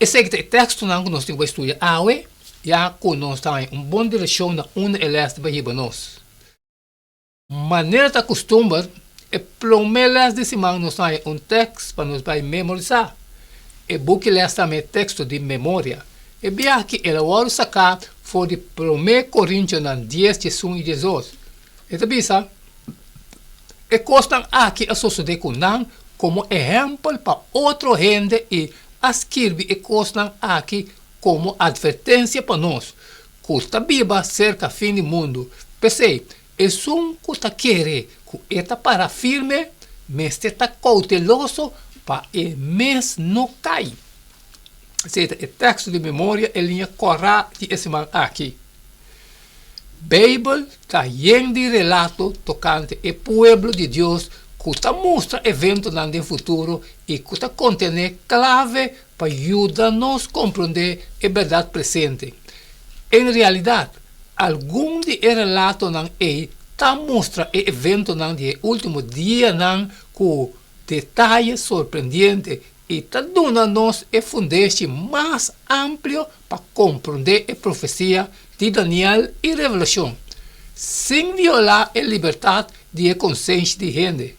Esei ta e tekstonan ku nos tin ku bai studia awe, ya ku nos ta haña un bon direkshon na unda e lès ta bai hiba nos. Manera ta kustumber, e promé lès di siman nos ta haña un tèkst pa nos bai memorisá. E bukiles ta mei teksto di memoria. E bia aki el a wòrdu saká for di Promé Korintionan dies djesun i djesdos. E ta bisa, E kosnan akí a sosodé ku nan komo ehèmpel pa otro hende i a skirbi e kosnan akí komo atvertensia pa nos ku ta biba serka fin di mundu. P'esei, esun ku ta kere ku e ta para firme mester ta kouteloso pa e mes no kai. Esei ta e tèksto di memoria e liña kòrá di e siman akí. Beibel ta yen di relato tokante e pueblo di Dios ku ta mustra eventonan den futuro i ku ta kontené klave pa yuda nos komprondé e bèrdat presente. En realidat, algun di e relatonan ei ta mustra e eventonan di e último dianan ku detaye sorprendiente. I ta duna nos e fundeshi mas amplio pa komprondé e profesia di Daniel i Revelashon, sin violá e libertat di e konsenshi di hende.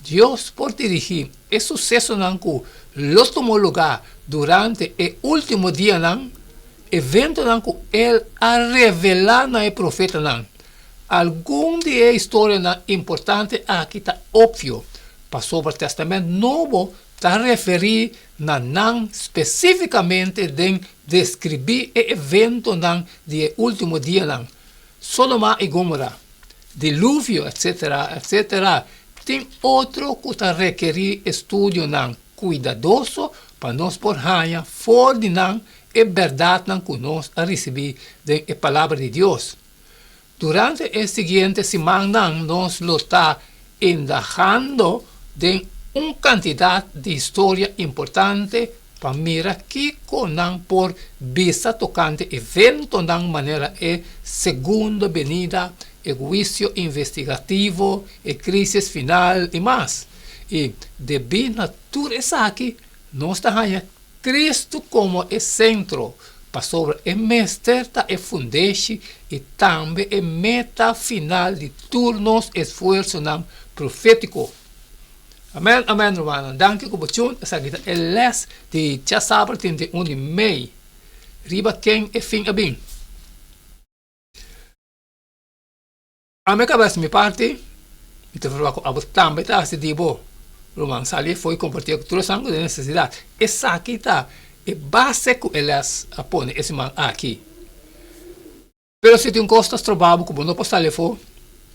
Dios por dirigí e susesonan ku lo tomó lugá durante e último dianan, eventonan ku el a revelá na e profetanan. Algun di e historianan importante aki ta opvio, Pasobra Tèstamènt Nobo ta referí na nan spesífikamente den deskribí e eventonan di e último dianan. Sodoma i Gómora, diluvio, etcétera, etcétera, tin otro ku ta rekerí estudionan kuidadoso pa nos por haña for di nan e bèrdatnan ku nos a risibí den e Palabra di Dios. Durante e siguiente simannan nos lo ta indagando den un kantidat di historia importante pa mira kiko nan por bisa tokante eventonan manera e Segundo Benida, e huisio investigativo, e krísis final i mas. I debí na tur esaki nos ta haña Kristu komo e sentro, pasobra e mester ta e fundeshi i tambe e meta final di tur nos esfuersonan profétiko. Amèn, amèn, rumannan. Danki ku bo tjun. Esaki ta e lès di djasabra den den un di mei riba Ken e fin a bin? Ami a kabes mi parti, mi ta verba ku abo tambe ta hasi di bo. Ruman Salye foi kompartié ku tur esnan ku tin nesesidat. Esaki ta e base ku e lès a pone e siman aki. Pero si tin kos ta stroba bo ku bo no por sali afó,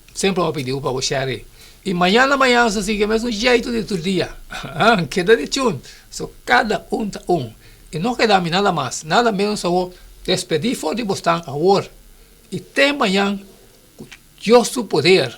semper bo a pidi bo pa bo sheri. I mañana mañana ta sigui e mesun jeitu di tur dia. Ahan, keda dichun! So, kada un ta un. I no keda mi nada mas, nada menos awor. Despedí for di bosnan awor. I temanan ku Dios su poder.